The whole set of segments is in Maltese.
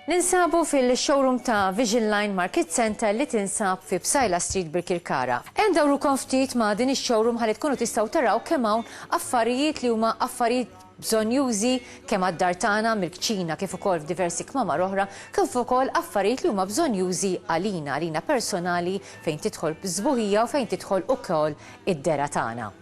Ninsabu fil-showroom ta' Vision Line Market Center li tinsab fi Psajla Street Birkirkara. Hemm dawrukom ftit ma' din ix-showroom ħalli tkunu tistgħu taraw kemm hawn affarijiet li huma affarijiet bżonjużi kemm għad-dar tagħna mill-kċina kif ukoll f'diversi kmamar oħra, kif ukoll affarijiet li huma bżonjużi għalina, għalina personali fejn tidħol s-sbuħija u fejn tidħol ukoll id-dehra tagħna.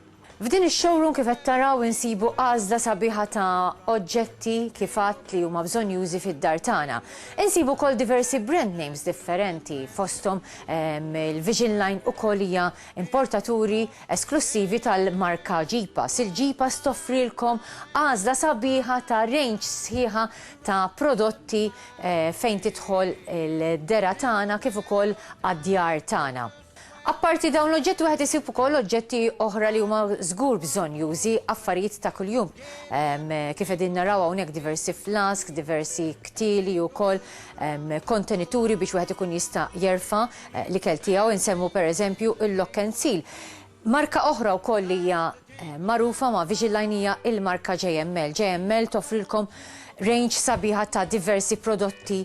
F'din ix-showroom kif qed taraw insibu għażla sabiħa ta' oġġetti kif għadt li huma bżonjużi fid-dar tagħna. Insibu wkoll diversi brand names differenti fosthom il-Vision Line ukoll hija importaturi esklussivi tal-marka Jeepass. Il-Jeepass toffrilkom għażla sabiħa ta' range sħiħa ta' prodotti fejn tidħol il-dergħa tagħna kif ukoll għad-djar tagħna. Apparti dawn l-oġġetti wieħed isib ukoll oġġetti oħra li huma żgur bżonnjużi, affarijiet ta' kuljum kif qegħdin naraw hawnhekk diversi flasks, diversi ktieli ukoll, kontenituri biex wieħed ikun jista' jerfa' L-ikel tiegħu insemmu pereżempju il-Lokkensil. Marka oħra wkoll li hija magħrufa ma' Vigiline hija il-marka JML. JML toffrilkom range sabiħa ta' diversi prodotti.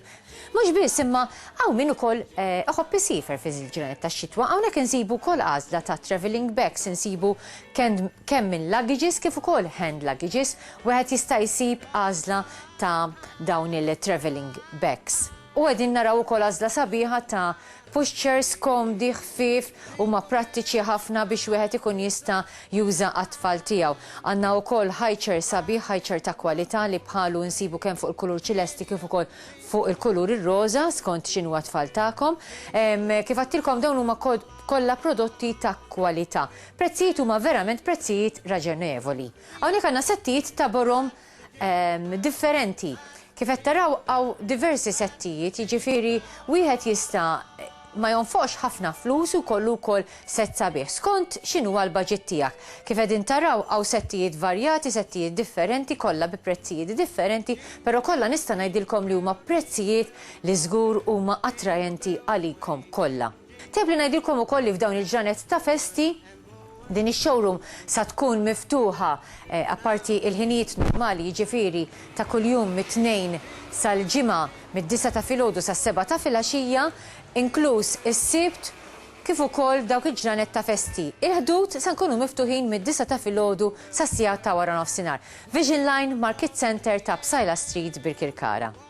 Mhux biss imma hawn min ukoll iħobb isiefer fi ż-ġranet tax-xitwa. Hawnhekk insibu wkoll għażla ta' travelling bags, insibu kemm minn luggages kif ukoll hand luggages. Wieħed jista' jsib għażla ta' dawn il-travelling bags. U qegħdin naraw ukoll għażla sabiħa ta' pushchairs komdi, ħfief, huma prattiċi ħafna biex wieħed ikun jista' juża għat-tfal tiegħu. Għandna wkoll highchair sabiħ, highchair ta' kwalità li bħalu insibu kemm fuq il-kulur ċilesti kif ukoll fuq il-kulur ir-roża skont x'inhuwa t-tfal tagħkom. Kif għedtilkom dawn huma kollha prodotti ta' kwalità. Prezzijiet huma verament prezzijiet raġonevoli. Hawnhekk għandna settijiet ta' borom differenti. Kif qed taraw hawn diversi settijiet, jiġifieri wieħed jista' ma jonfoqx ħafna flus u jkollu wkoll sett sabiħ, skont x'inhuwa l-baġit tiegħek. Kif qegħdin taraw hawn settijiet varjati, settijiet differenti, kollha bi prezzijiet differenti, però kollha nista' ngħidilkom li huma prezzijiet li żgur huma attraenti għalikom kollha. Tajjeb li ngħidilkom ukoll li f'dawn il-ġranet ta' festi, Din ix-showroom sa tkun miftuħa apparti il-ħinijiet normali jiġifieri ta' kuljum mit-Tnejn sal-Ġimgħa mid-disgħa ta' filgħodu sas-sebgħa ta' filgħaxija inkluż is-Sibt kif ukoll f'dawk il-ġranet ta' festi. Il-ħdud sa nkunu miftuħin mid-disgħa ta' filgħodu sas-siegħat ta' waranofsinhar. Vision Line, Market Centre ta' Psaila Street, Birkirkara.